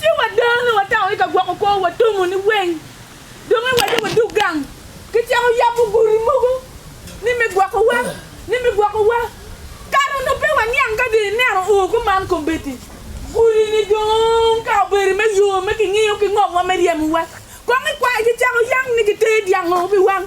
Ci wadone watamo i ka gwoko kwo, watomo ni weng, dong iwacce wadog gang. Kicako yabo gudi mogo ni me gwokowa, ni me gwokowa. Kare onongo pe waniang ka dong ineno oo kuman kombeddi. Gudi-ni dong ka obedo me yo me kingiyo ki ngomwa me ryemowa, kong ikwayo kicako yam ni giteye dyang oo pi wang,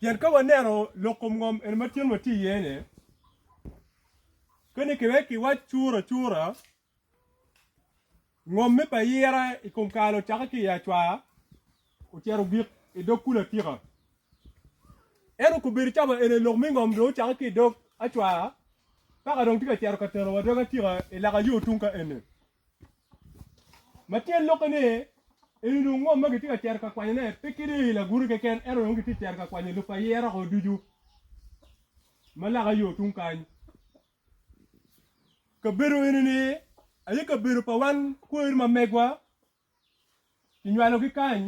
Pien ka waneno lok kom ngom eni ma tyen watye iye-ni, kadi ki wek kiwac curacura, ngomme pa yira i kom kare ocakke ki i acwar ocito ogik i dog kulu atika. Ento kobedo cawa eni lok me ngom dong ocakke ki i dog acwar, paka dong tye ka cito ka tenowa dog atika i laka yo tung ka eni. Ma tyen lokke ni, eni onongo ngom ma gitye ka cito ka kwanyone pe kede i laguti keken, ento dong gitye ka cito ka kwanyo lub pa yero ko ducu ma loka yo tung kany. Kabedo eni-ni aye kabedo pa wan kweri ma megwa, kinywalogi kany,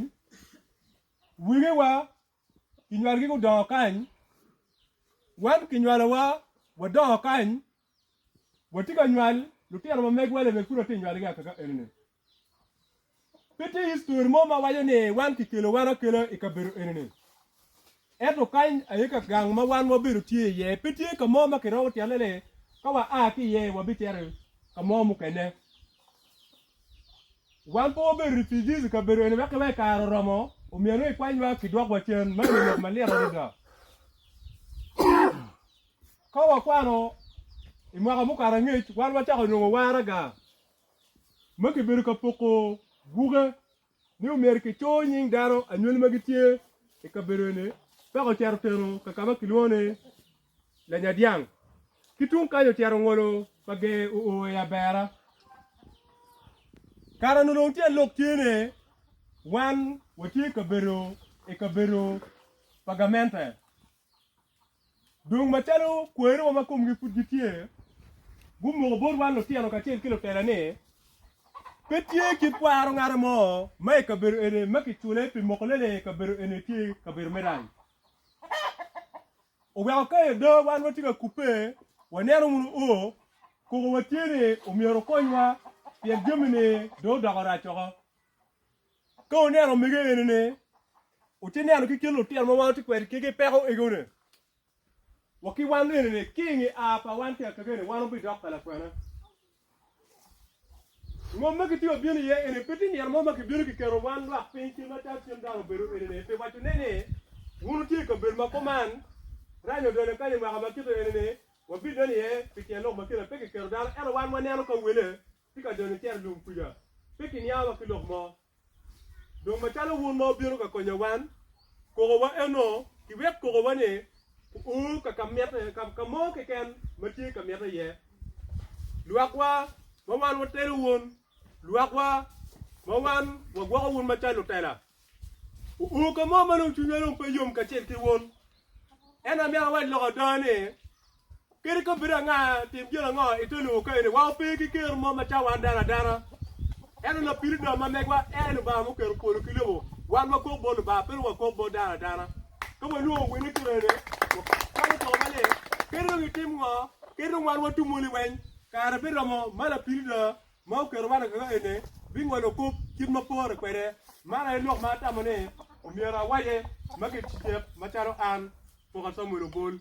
wegiwa kinywalogi gudongo kany, wan kinywalowa wadongo kany. watye ka nywal lutino ma megwa lebe pud watye nywalogi aka ka enini. Pe tye histori mo ma waco ni wan kikelo wan akela i kabedo enini. Ento kany aye ka gang ma wan wabedo tye iye, pe tye ka mo ma kiromo tyane ni ka wa a ki iye wabicito ka mo mukene. Wan pe wabedo refugees i kabedo eni wek ki wek kare oromo omiya nongo ikwanywa kidwokwa cen, ma eni lok malit adada. Ka wakwano i mwaka mukato angec, wan wacako nongo waraga ma kibedo ka poko buke ni omyero kicur nying dano anywali ma gitye i kabedo eni peke ocito oteno ka ka ma kilwongo ni Lanyadyang. Ki tung kany ocito ngolo pa ger oo i Abera. Kara nongo dong tyen lok tye ni wan watye ka bedo i kabedo pa gamente. Dong macalo kwerewa ma komgi pud gitye, gumoko bot wan lutino kacel ki lutela ni, pe tye kit kwaro ngate mo ma i kabedo eni ma kicule pi moko lele i kabedo eni tye kabedo me rany. Oweko ka ada wan watye ka kubbe, waneno wunu o, koko watye ni omyero okonywa pien jami-ni dong odoko rac woko. Ka wuneno omege enini, wuti neno ki kin lutino ma wan wuti kwed kegi peko egone. Wa ki wan enini, ki inge a pa wan ki akakeni, wan wubidok ka lakwena. Ngom ma giti wabino iye eni, pe ti nino mo ma kibino kiketo wan lwak piny cen ma cal cen dano obedo enini, pi waco ne ni, wun wutye i kabedo ma kuman, rany odonyo kany i mwaka ma kite enini, wabineno iye pi tyen lok ma kine pe kiketo dano, ento wan waneno ka wele tye ka donyo cito i lum kuca, pe kiniang wa ki lok mo. Dong macalo wun ma wubino ka konyo wan, kokowa eno, kiwek kokowa-ni o ka ka mitte, ka ka mo keken ma tye ka mitte iye. Lwakwa ma wan watelo wun, lwakwa ma wan wagwoko wun macalo lutela, o ka mo ma dong cwinywa dong pe yom kacel ki wun. Ento amito awac lok ada ni, Kadi ka obedo anga, tim gin ango i te nongo kayone? Wa ope ki kero mo macalo wan dano adana. Ento Lapiridon ma megwa en Lubanga muketo polo ki lobo. Wan wakok bot Lubanga, pedo wakok bot dano adana. Ka wanongo wene ki rene, wakwano koko maleng. Kadi dong itim ngo, kadi dong wan watum moni weng, kare pe romo ma Lapiridon ma oketo wan akaka ene bingolo kop kit ma pore kwede. Man aye lok ma atamo ni omyero awace ma gicecek macalo an, Poko Samuel Obol.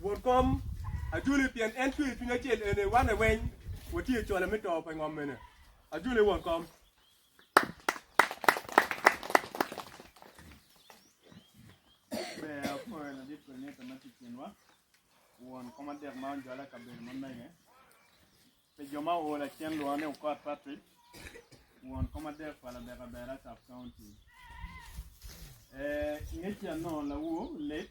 Won kom ajole pien en tweyo cwiny acel ene wane weny watye cola me to pa ngom mene ajole won kom. Won kom adek ma onjwala kabedo ma mege pe jo ma ool acen lwongo ni okot Patrick won kom adek pa labek abera sub county. Ngecia nongo lawo late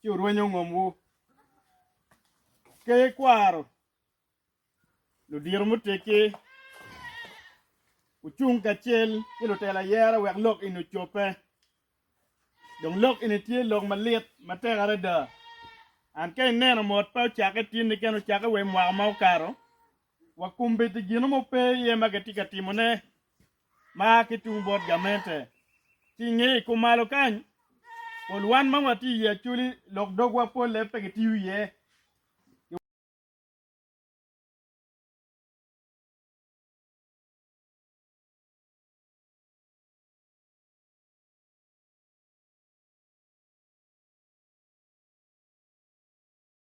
ci wurwenyo ngomwu. Ka ikwaro ludiro muteggi, wucung kacel ki lutelo ayera wek lok eni ocobbe. Dong lok eni tye lok malit matek adada. An ka ineno mot pe ocakke tinni kene ocakke wa i mwaka ma okato, wa kombeddi gino mo pe iye ma kitye ka timone ma ki tung bot gamente. Ki i ngeye kumalo kany, pol wan ma watye i Acholi lok dogwa polle pe gitiyo iye.